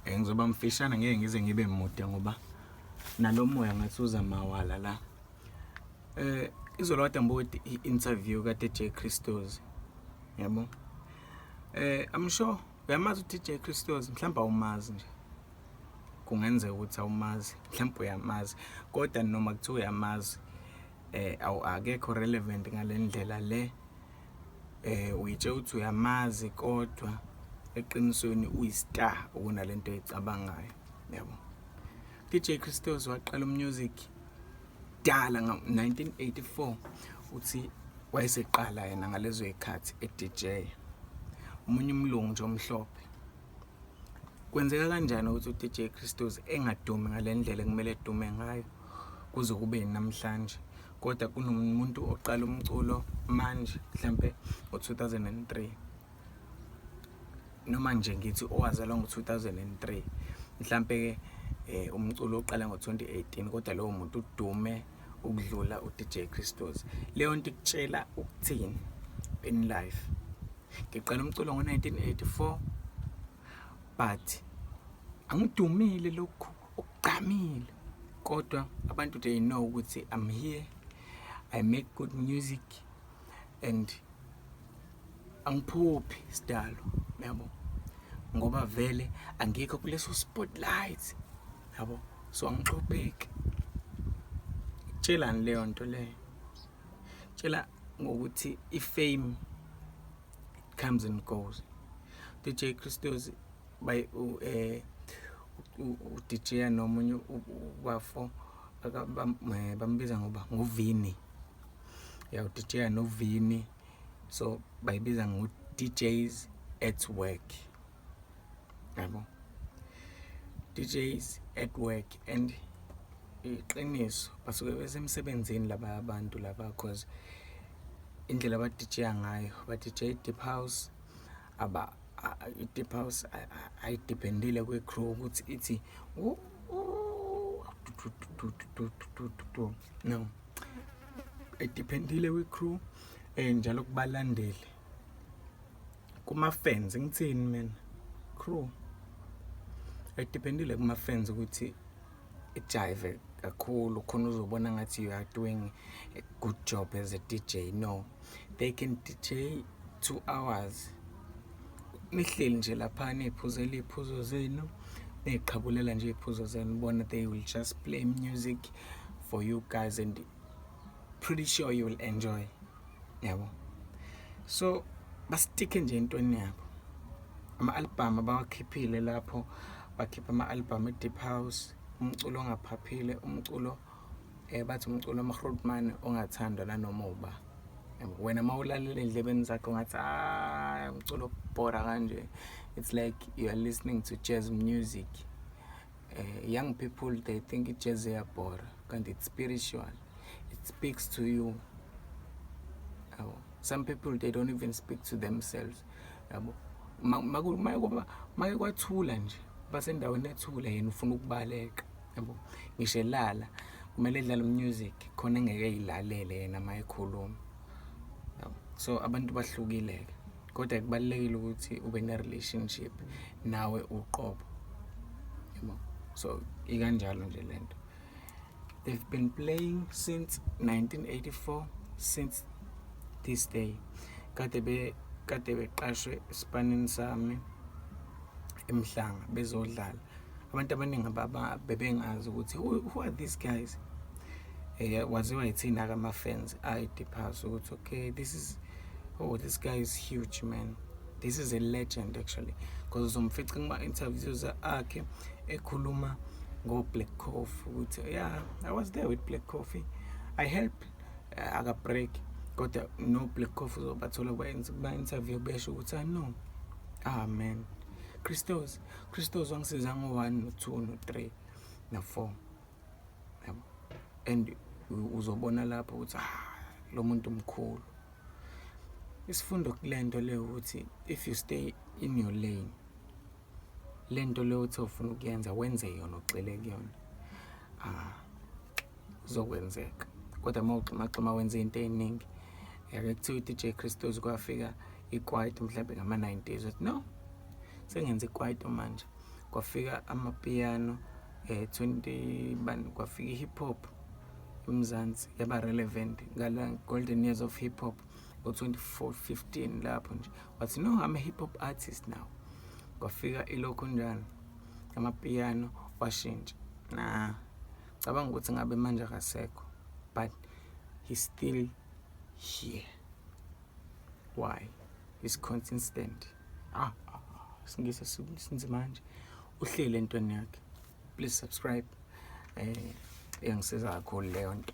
Eh, ngizoba mfishane ngeke ngize ngibe mude ngoba nalomoya ngathi uza mawala la eh izolo kade ngibuka i-interview kaDJ Christos yabo eh i'm sure uyamazi uDJ Christos mhlawumbe awumazi nje kungenzeka ukuthi awumazi mhlawumbe uyamazi kodwa noma kuthiwa uyamazi eh awu akekho relevant ngalendlela le eh uyitshela ukuthi uyamazi kodwa eqinisweni uyistar okunalento ecabangayo yabo DJ Christos waqala umusic dala ngo-1984 uthi wayeseqala yena ngalezo zikhathi e-DJ umunye umlungu nje omhlophe kwenzeka kanjani ukuthi uDJ Christos engadumi ngalendlela kumele edume ngayo kuze kube namhlanje kodwa kunomuntu oqala umculo manje mhlampe ngo-2003 noma nje ngithi owazalwa ngo-2003 mhlampe-ke um umculo oqala ngo-2018 kodwa lowo muntu udume ukudlula uDJ Christos leyo nto ikutshela ukuthini in life ngiqala umculo ngo-1984 but angidumile lokhu okugqamile kodwa abantu they know ukuthi i'm here i make good music and angiphuphi sidalo yabo ngoba vele angikho kuleso spotlight yabo so angixopheki tshelani leyo nto leyo tshela ngokuthi ifame comes and goes DJ Christos by u eh u DJ nomunye ubafo eh, bambiza ngoba ngovini ya u DJ novini so bayibiza ngo DJs at work yabo DJs at work and iqiniso basuke besemsebenzini laba abantu laba cause indlela abadijeya ngayo badijeya i-deep house aba i-deep house ayidependile kwi-crew ukuthi ithi no ayidependile kwi-crew um njalo kubalandeli kuma fans ngithini mina crew it dependile kuma fans ukuthi ijive kakhulu khona uzobona ngathi you are doing a good job as a DJ no they can DJ 2 hours nihleli nje lapha niphuzela iphuzo zenu niqhabulela nje iphuzo zenu bona they will just play music for you guys and pretty sure you will enjoy yabo so basitike nje entweni yabo ama-album abawakhiphile lapho bakhipha ama-album e-deep house umculo ongaphaphile umculo um bathi umculo amahrotman ongathandwa nanoma uba wena uma ulalele ey'ndlebeni zakho ngathi hayi umculo obhora kanje it's like you are listening to jazz music Uh, young people they think ijazz iyabhora kanti it's spiritual it speaks to you yabo some people they don't even speak to themselves yabo make kwathula nje basendaweni ethula yena ufuna ukubaleka yabo ngisho elala kumele edlale umusic khona engeke eyilalele yena uma ekhuluma so abantu bahlukile-ke kodwa kubalulekile ukuthi ube ne-relationship nawe uqobo yabo so ikanjalo nje le nto they've been playing since 1984 since this day kade be kade beqashwe esipanini sami emhlanga bezodlala abantu abaningi baba bebengazi ukuthi who are these guys eh waziwa yithina ka ma fans ayi depass ukuthi okay this is oh this guy is huge man this is a legend actually because uzomfica kuma interviews akhe ekhuluma ngo Black Coffee ukuthi yeah I was there with Black Coffee I help uh, eh, aka break kodwa no Black Coffee uzobathola kwenza kuma interview besho ukuthi I ah, know ah man Christos Christos wangisiza ngo 1 no 2 no 3 no 4 yabo and uzobona lapho ukuthi ah lo muntu mkhulu isifundo kulento le ukuthi if you stay in your lane lento le uthi ufuna ukuyenza wenze yona ugxile kuyona ah zokwenzeka kodwa uma uxhumaxhuma wenza into eningi yake kuthiwa i-dj christos kwafika ikwayito mhlawumbe ngama-90s wathi no sengenza ikwayito manje kwafika amapiyano eh 20 bani kwafika i-hip hop emzansi yaba relevant ngala golden years of hip hop ngo-24 15 lapho nje wathi no i'm a hip hop artist now kwafika ilokhu njani amapiyano washintsha na cabanga ukuthi ngabe manje akasekho but he's still here why is consistent ah, ah, ah singisesinzimanje uhlele entweni yakhe please subscribe eh iyangisiza kakhulu leyo nto